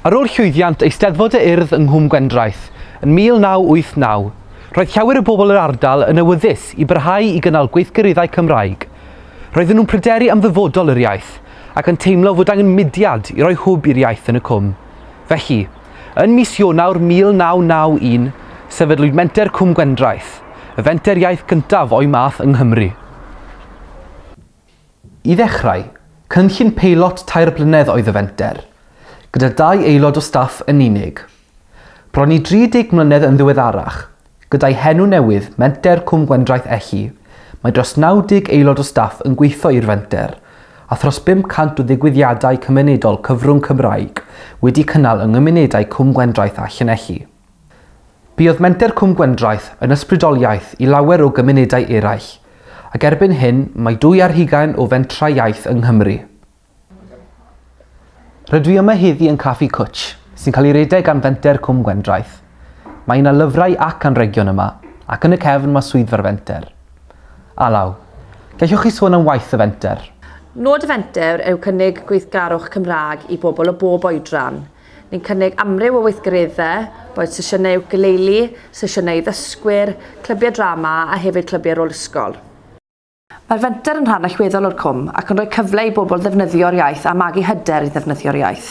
Ar ôl llwyddiant Eisteddfod y Urdd yng Nghwm Gwendraeth yn 1989, roedd llawer o bobl yr ardal yn awyddus i barhau i gynnal gweithgareddau Cymraeg. Roedden nhw'n pryderu am ddyfodol yr iaith ac yn teimlo fod angen mudiad i roi hwb i'r iaith yn y Cwm. Felly, Yn mis Ionawr 1991, sefydlwyd Menter Cwm Gwendraeth, y fenter iaith gyntaf o'i math yng Nghymru. I ddechrau, cynllun peilot tair blynedd oedd y fenter, gyda dau aelod o staff yn unig. Bron i 30 mlynedd yn ddiweddarach, Gyda'i henw newydd, Menter Cwm Gwendraeth Elli, mae dros 90 aelod o staff yn gweithio i'r fenter, a thros 500 o ddigwyddiadau cymunedol cyfrwng Cymraeg wedi cynnal yng nghymunedau Cwm Gwendraeth a Llanelli. Buodd Menter Cwm Gwendraeth yn ysbrydoliaeth i lawer o gymunedau eraill, ac erbyn hyn mae dwy ar hugain o fentrau iaith yng Nghymru. Rydw i yma heddi yn Caffi Cwtsh, sy'n cael ei redeg gan Fenter Cwm Gwendraeth. Mae yna lyfrau ac anrhegion yma, ac yn y cefn mae swyddfa'r Fenter. Alaw, gellwch chi sôn am waith y Fenter? Nod y Fenter yw cynnig gweithgarwch Cymraeg i bobl o bob oedran. Ni'n cynnig amryw o weithgareddau, boed sesiynau iwcaleili, sesiynau i ddysgwyr, clybiau drama a hefyd clybiau rôl ysgol. Mae'r fenter yn rhan allweddol o'r cwm ac yn rhoi cyfle i bobl ddefnyddio'r iaith a magu hyder i ddefnyddio'r iaith.